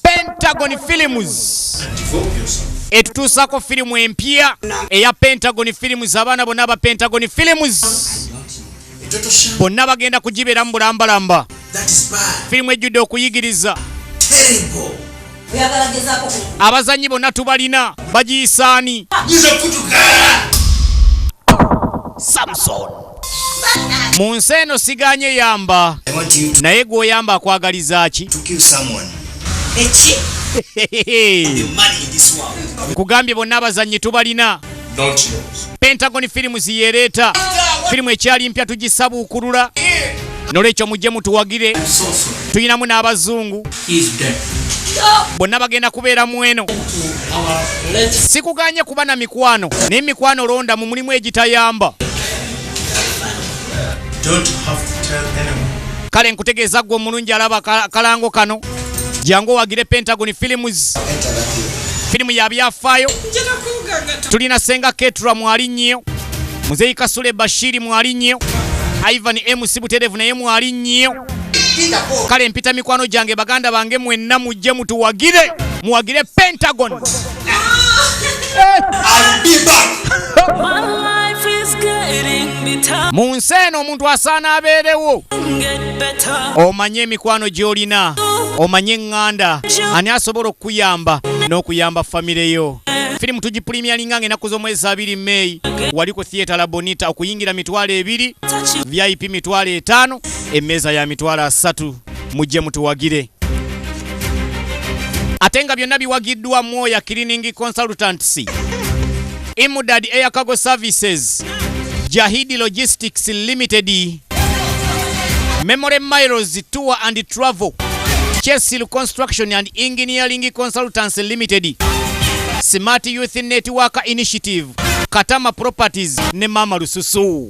Pentagon Films etutuusako firimu empya eya Pentagon Films. Abaana bonna aba Pentagon Films bonna bagenda kugibeeramu bulambalamba. Firimu ejjudde okuyigiriza. abazanyi bona tubalina bagiyisaani samson mu nsi eno siganye yamba naye gweoyamba akwagaliza ki nkugambye bonna abazanyi tubalina pentagon firimu ziyereeta firimu ekyali mpya tugisabuukulula nolwekyo mujje mutuwagire tulinamu n'abazungu bonna bagenda kubeera mu eno sikuganye kuba na mikwano naye mikwano londa mu mulimu egitayamba kale nkutegeeza gwe omulungi alaba kalango kano jangu owagire pentagon films filimu ya byafaayo tulina senga ketura mwali nnyo muzeyi kasule bashiri mwali nnyo ivan mc buterevu naye mwali nnyo kale mpita mikwano gyange baganda bange mwenna mujje mutuwagire muwagire pentagon mu nsi eno omuntu asaana abeerewo omanye emikwano gy'olina omanye eŋŋanda ani asobola okukuyamba n'okuyamba famire yo firimu tugipulimiyalinga nga enaku z'omwezi abiri meeyi wali ku theatre labonita okuyingira mitwalo ebiri vip mitwalo etaano emmeeza ya mitwalo asatu mujje mutuwagire ate nga byonna biwagiddwa mwoya cleaning consultants imudad air cargo services jahidi logistics limited memory miles tour and travel chesil construction and engineering consultants limited smart youth network initiative katama properties ne mama lususu